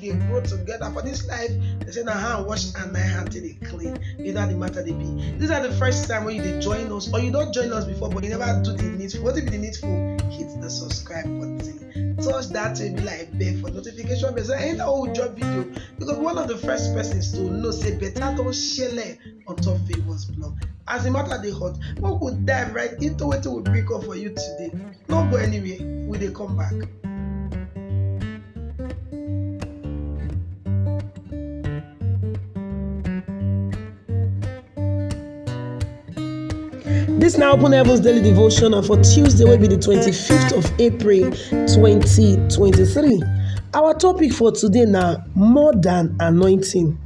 dey grow together for this life they say na hand wash and na hand take dey clean you know how the matter dey be this na the first time wey you dey join us or you don join us before but you never do the needful wetin be the needful hit the subscribe button touch that baby like bell for notification bell so anytime wey we drop video you go be one of the first persons to know say better don shele on top favours blog as the matter dey hot make we dive right into wetin we bring come for you today no go anywhere we dey come back. This now Open Heavens Daily Devotion and for Tuesday will be the 25th of April 2023. Our topic for today now more than anointing.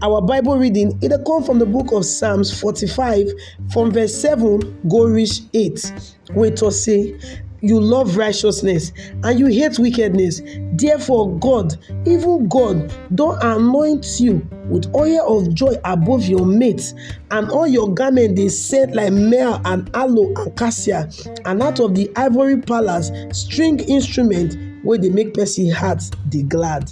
Our Bible reading it come from the book of Psalms 45 from verse 7 go reach 8 wey talk say you love righteousness and you hate wickedness therefore God even God don anoint you with oil of joy above your mates and all your garment dey set like myrrh and aloe and cassia and out of the ivory palace string instrument wey dey make person heart dey glad.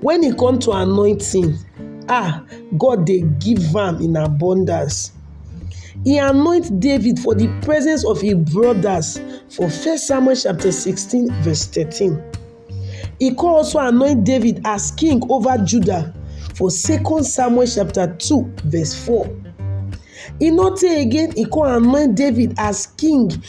When e come to anointing um God dey give am in abundance. He anoint David for the presence of his brothers for first Samuel chapter sixteen verse thirteen. He come also anoint David as king over Judah for second Samuel chapter two verse four. E no tey again he come anoint David as king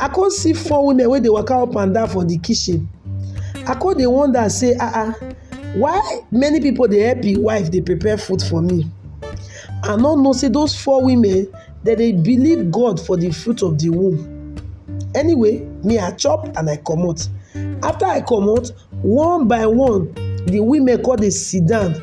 I come see four women wey dey waka up and down for the kitchen. I come dey wonder say, ah ah, why many people dey help im wife dey prepare food for me? I no know say those four women, dem dey believe God for the fruit of the womb. Anyway, me I chop and I comot. After I comot, one by one, the women come dey sit down.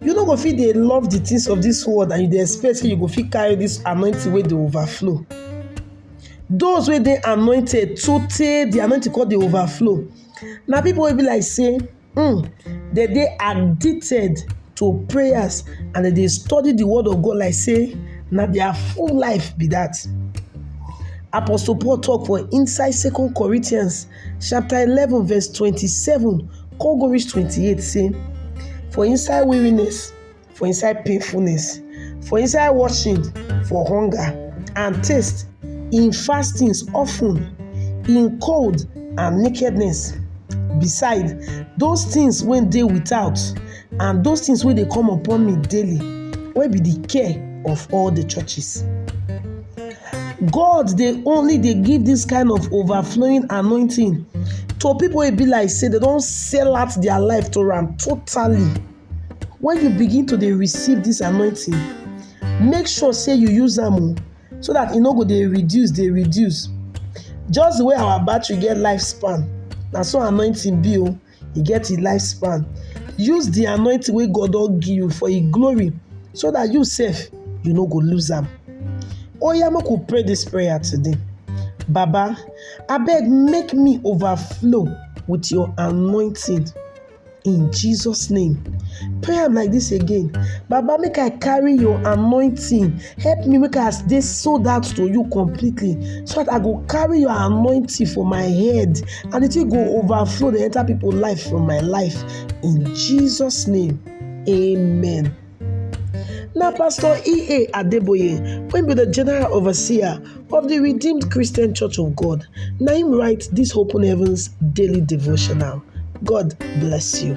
You no go fit dey love the things of this world and you dey expect say you go fit carry this anointing wey dey overflow. Those wey dey anointed sotey the anointing come dey overflow na people wey be like say um dem dey addicted to prayers and dem dey study the word of God like say na their full life be that. Apostle Paul talk for inside Second Corinthians chapter eleven verse twenty-seven come go reach twenty-eight say for inside weariness for inside painfulness for inside watching for hunger and taste in fastings often in cold and nakedness beside those things wey dey without and those things wey dey come upon me daily wey be the care of all the churches God dey only dey give this kind of overflowing anointing to people wey be like say they don sell out their life to am totally. When you begin to dey receive this anointing, make sure say you use am o so that e no go dey reduce dey reduce. Just the way our battery get lifespan, na so anointing be o. e get a lifespan use the anointing wey god don give you for a glory so that you sef you no go lose am oya make we pray this prayer today baba abeg make me overflow with your anointing in jesus name pray am like this again baba make i carry your anointing Help me make I dey sold out to you completely so that I go carry your anointing for my head and the thing go overflow dey enter people life from my life in Jesus name amen. Na Pastor E.A. Adeboye wey be the general overseer of the Redeemed Christian Church of God na him write this Open Heavens daily devotional. God bless you.